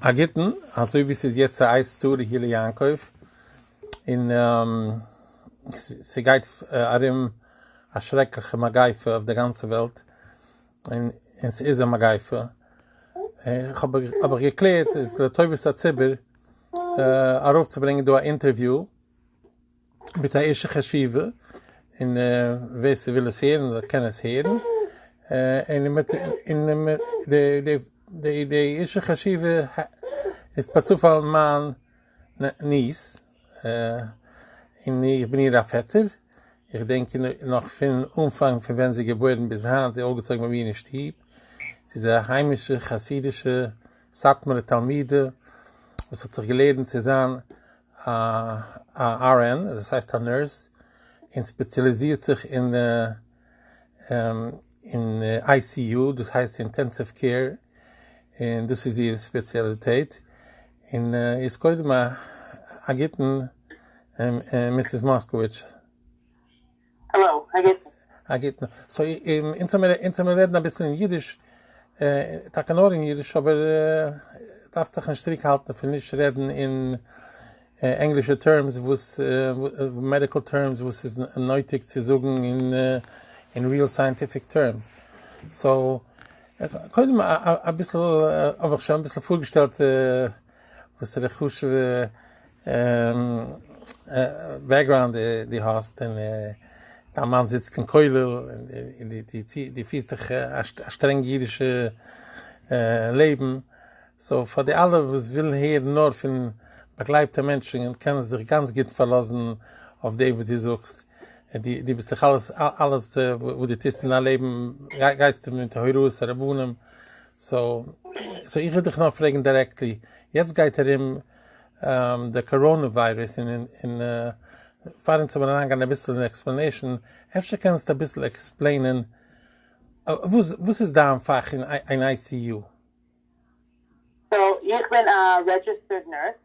א גוטן, אזוי ווי ס'איז יעצט א עת צרה הי' ליעקב, און ס'גייט ארום א שרעקליכע מגיפה אויף די גאנצע וועלט, און ס'איז א מגיפה, האב איך געקלערט איז לטובת הציבור ארויפצוברענגען דא א אינטערוויו מיט א איש חשיבה, און ווער ס'וויל עס הערן זאל קען עס הערן, און די איש חשיבה איז פארצופאל מיין ניס, און איך בין איר א פעטער, איך דענק נאך פון אנפאנג פון ווען זי איז געבוירן ביז היינט, זי איז אויפגעצויגן ביי מיר אין שטוב, זי איז א היימישע חסידישע סאטמארע תלמידה וואס האט זיך געלערנט צו זיין א RN, דאס הייסט א נורס, און ספעציליזירט זיך אין ICU, דאס הייסט אינטענסיוו קעיר, און דאס איז איר ספעציאליטעט, און איז קודם א גוטן מיסיס מאסקאוויטש. העלאו, א גוטן. א גוטן. סאו אונז האמיר אונז האמיר רעדן אביסל אין אידיש, טאקע נאר אין אידיש, אבער דארפסט זיך נישט צוריק האלטן פון נישט רעדן אין ענגלישע טערמס וואס מעדיקל טערמס וואס איז נויטיג צו זאגן אין ריעל סייענטיפיק טערמס. סאו קודם אביסל האב איך שוין אביסל פארגעשטעלט. וואסערע חשוב'ע בעקגראונד די האסט, און דיין מאן זיצט אין כולל, און די פירסט דיך א שטרענג אידישע לעבן, סאו פאר די אלע וואס ווילן הערן נאר פון באגלייבטע מענטשן, קענען זיך גאנץ גוט פארלאזן אויף דעם וואס די זאגסט, די ביסט דאך אלעס וואס די טוסט אין דיין לעבן גייסטו מיט הוראות הרבנים, סאו סאו איך וויל דיך נאר פרעגן דירעקטלי, יעצט גייט ארום די קאראנע וויירוס און און פאר אונז וועלן אריין גיין אביסל אין עקספלענעישן, אפשר קענסטו אביסל עקספלעינען וואס וואס איז דיין פאך אין איי סי יו? סאו איך בין א רעדזשיסטערד נורס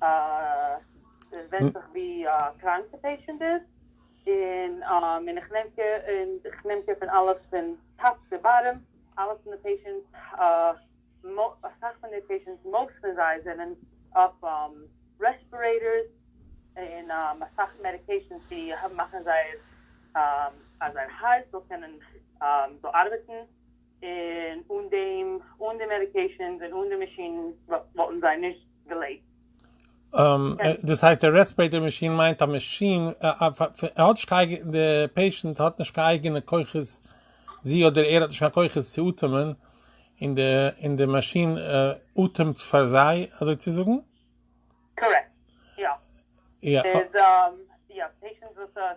עס ווענדט זיך ווי קראנק די פעישענט איז, און און איך נעם קער און איך נעם קער פון אלעס פון טאפ צו באטעם, אלעס פון די פעישענט אסאך פון די פעישענטס מאוסט פון זיי זענען אויף רעספירעיטארס און אסאך מעדיקעישאן צו מאכן זייער אז זייער הארץ זאל קענען זאל ארבעטן, און אן דעם אן די מעדיקעישאנס און אן די מאשינען וואלטן זיי נישט געלעבט. דאס הייסט די רעספרעיטער מאשין מיינט א מאשין די פעישענט האט נישט קיין אייגענע כוחות זי אדער ער האט נישט קיין כוחות צו אטעמען און די און די מאשין אטעמט פאר זיי אזוי צו זאגן? קארעקט יא ס'איז יא פעישענט וואס.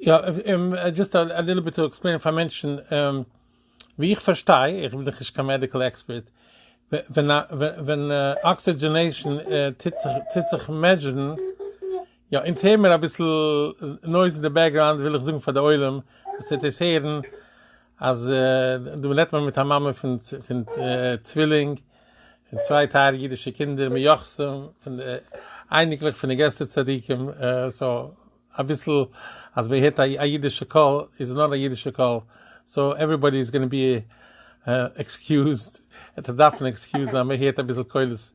יא, דזשאסט א ליטל ביט טו עקספלעין פאר מענטשן, ווי איך פארשטיי, איך בין דאך נישט קיין מעדיקל עקספערט, ווען א ווען אקסידזשענעישן טוט זיך טוט זיך מעזשערן, יא, אונז הער מיר אביסל נויז אין די בעקגראונד, וויל איך זאגן פאר די עולם וואס וועט דאס הערן, אז דא רעדט מען מיט א מאמע פון פון צווילינג, פון צוויי טייערע אידישע קינדער מיוחסים, פון די אייניקלעך פון די גרעסטע צדיקים, סאו אביסל אז מען הערט א אידישע קול איז נאר א אידישע קול סאו עוועריבאדי איז גאנע בי עקסקיוזד ער דארף דארפן עקסקיוזן אז מען הערט אביסל קולות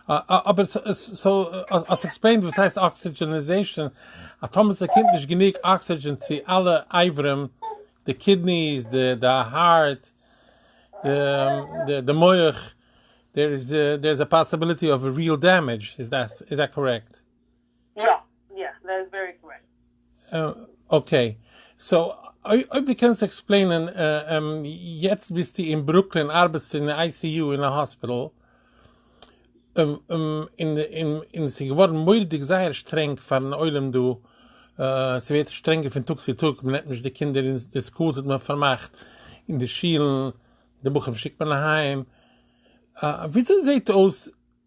אבער סאו האסט עקספלעינד וואס הייסט אקסידזשעניזעישאן אז טאמער ס'קומט נישט גענוג אקסידזשען צו אלע אברים די קידניס די הארט די מח דער איז דער איז א פאסיביליטי אוו ריעל דעמעדזש איז דעט קארעקט? יא יא דעט איז ווערי קארעקט. אקעי סאו אויב די קענסט עקספלעינען יעצט ביסטו אין ברוקלין ארבעטסטו אין די איי סי יו אין א האספיטעל און עס איז געווארן מוראדיג זייער שטרענג פארן עולם דא עס ווערט שטרענגער פון טאג צו טאג מען נעמט נישט די קינדער אין די סקולס האט מען פארמאכט אין די שילן די בחורים שיקט מען אהיים וויאזוי זעהט אויס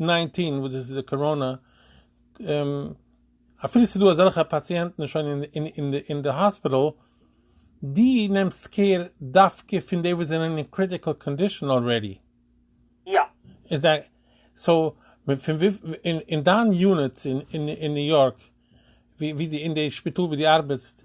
נײַנצן וואס דאס איז די קאראנא, אפילו ס'איז דא אזעלכע פאציענטן שוין אין די האספיטאל, די נעמסט קעיר דווקא פון די וואס זענען אין קריטיקעל קאנדישאן אלרעדי? יא. איז די, סאו, פון וויפיל, אין דיין יוניט אין ניו יארק, ווי די, אין די שפיטאל ווי די ארבעטסט.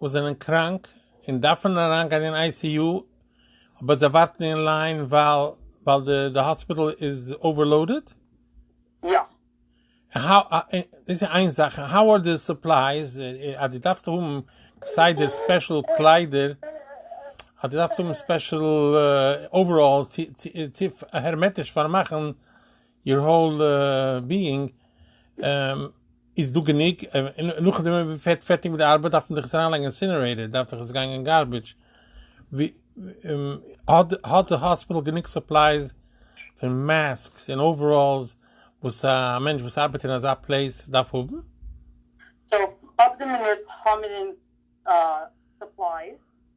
וואס זענען קראנק און דארפן אריינגיין אין איי סי יו אבער זיי ווארטן אין ליין ווייל די האספיטעל איז אווערלאודעד? יא. דאס איז איין זאך, און האו אר די סופלייס, אז דו דארפסט האבן כסדר ספעשל קליידער, אז דו דארפסט האבן ספעשל אוועראלס צו הערמעטיש פארמאכן. יור האול ביאינג איז דא גענוג, נאכדעם ווען מען ווערט פערטיג מיט די ארבעט דארף מען דאך עס אריינלייגן אין אינסינערעיטער, דארף דאך עס גיין אין גארביטש, האט די האספיטעל גענוג סופלייס פון מאסקס און אוועראלס וואס א מענטש וואס ארבעט אין אזא פלעיס דארף האבן? סאו אויף די מינוט האמיר אונז סופלייס.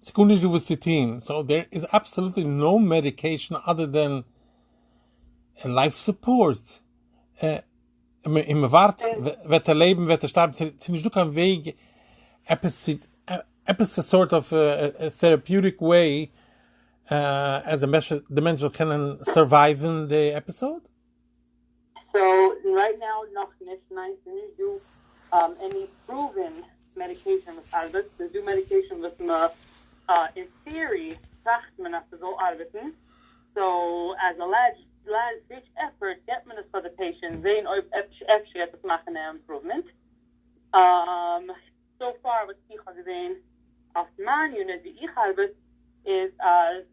ס'גאר נישט דא וואס צו טוהן, סאו דער איז אבסעלוטלי נאו מעדיקעישן אדער דען לייף סופארט, און און מ'ווארט וועט ער לעבן וועט ער שטארבן, ס'איז נישט דא קיין וועג עפעס צו עפעס א סארט אוו טעראפיוטיק וועי אז די מענטש זאל קענען סורווייווען די עפיסאוד. סאו רייט נאו נאך נישט, ניין ס'איז נישט דא עני פראווען מעדיקעישאן וואס ארבעט, ס'איז דא מעדיקעישאן וואס מ אין טעארי טראכט מען אז ס'זאל ארבעטן, סאו עז א לעסט דיטש עפפארט געבט מען עס פאר די פעישענט זעהן אויב אפשר גייט עס מאכן א אימפראוומענט. סאו פאר וואס איך האב געזעהן אויף מיין יוניט ווי איך ארבעט איז אז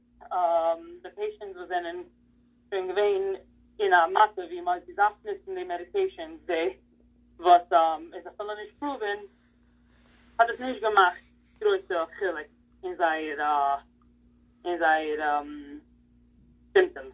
די פעישענטס וואס זענען שוין געווען אין א מצב ווי מ'האט געדארפט נוצן די מעדיקעישאנס די וואס איז אפילו נישט פראווען האט עס נישט געמאכט גרויסע חילוק אין זייער אין זייער סימפטאמס.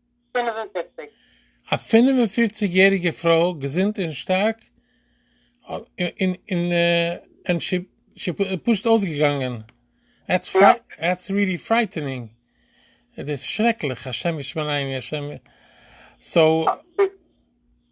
פֿינף און פֿופֿציק. א פֿינף און פֿופֿציק יעריגע פרוי געזונט און שטארק און שוין פשוט אויסגעגאנגען, דעטס ריעלי פרייטענינג, דאס איז שרעקליך, השם ישמרני השם, סאו.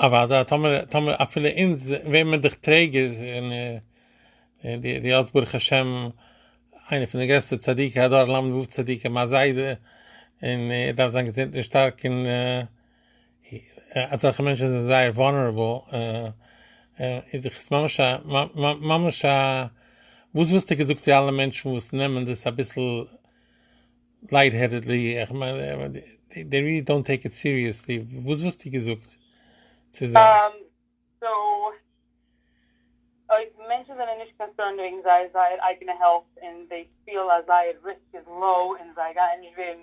אוודאי, טאמער טאמער אפילו אונז ווער מיר דאך טרעגער, און און דו דו האסט ברוך השם איינע פון די גרעסטע צדיקי הדור ל ו צדיקי מיין זיידע, און ער דארף זיין געזונט און שטארק און אה, אזעלכע מענטשן זענען זייער וואנערעבל, אה, אה, איז איך עס ממש א מ- מ- ממש א וואס וואלסטו געזאגט צו אלע מענטשן וואס נעמען דאס אביסל לייט העדעדלי, איך מיין דעי ריעלי דאנט טעיק איט סיריעסלי, וואס וואלסטו געזאגט צו זיי? סאו אויב מענטשן זענען נישט קאנסערנד וועגן זייער זייער אייגענע העלט און זיי פילן אז זייער ריסק איז לאו און זיי גייען נישט ווערן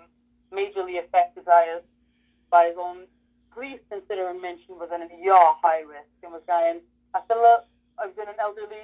מעידזשערלי עפעקטעד זייער זיי זאלן פליז קאנסידערן מענטשן וואס זענען יא היי ריסק און וואס גייען אפילו אויב זענען עלדערלי.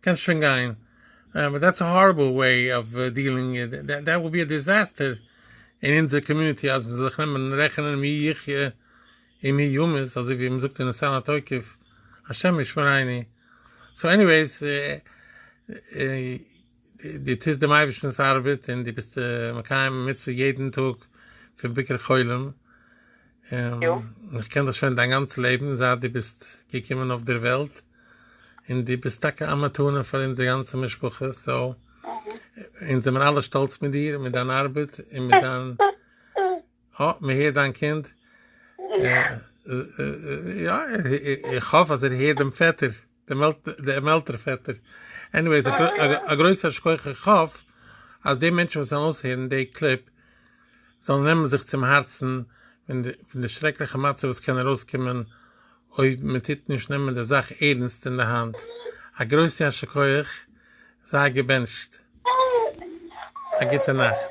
קענסט שוין גיין. באט דעטס א הארעבל וועי אוו דיעלינג דעט וואלט בי א דיזעסטער אין אונזער קאמיוניטי אז מ'זאל זיך נעמען רעכענען מי יחיה און מי ימות אזוי ווי מ'זאגט אין ניסן התוקף השם ישמריני סאו עניוועיס די טוסט דעם אייבערשטנ'ס ארבעט און די ביסט מקיים מצוה יעדן טאג פון ביקור חולים יא. און איך קען דיך שוין דיין גאנץ לעבן זייט דו ביסט געקומען אויף דער וועלט, און דו ביסט טאקע א מתנה פאר אונזער גאנצע משפחה, סאו אונז זעמער אלע שטאלץ מיט דיר, מיט דיין ארבעט, און מיט דיין, אה, מען הערט דיין קינד, יא, איך האף אז ער הערט דעם פעטער. דעם עלטער פעטער. עניוועיס א גרויסער שכח איך האף אז די מענטשן וואס וועלן אויסהערן די קליפ זאלן נעמען זיך צום הארצן פון די שרעקליכע מצב וואס קען ארויסקומען אויב מען טוט נישט נעמען די זאך ערנסט אין די האנט. א גרויסע יישר כח, זיי געבענטשט. א גוטע נאכט.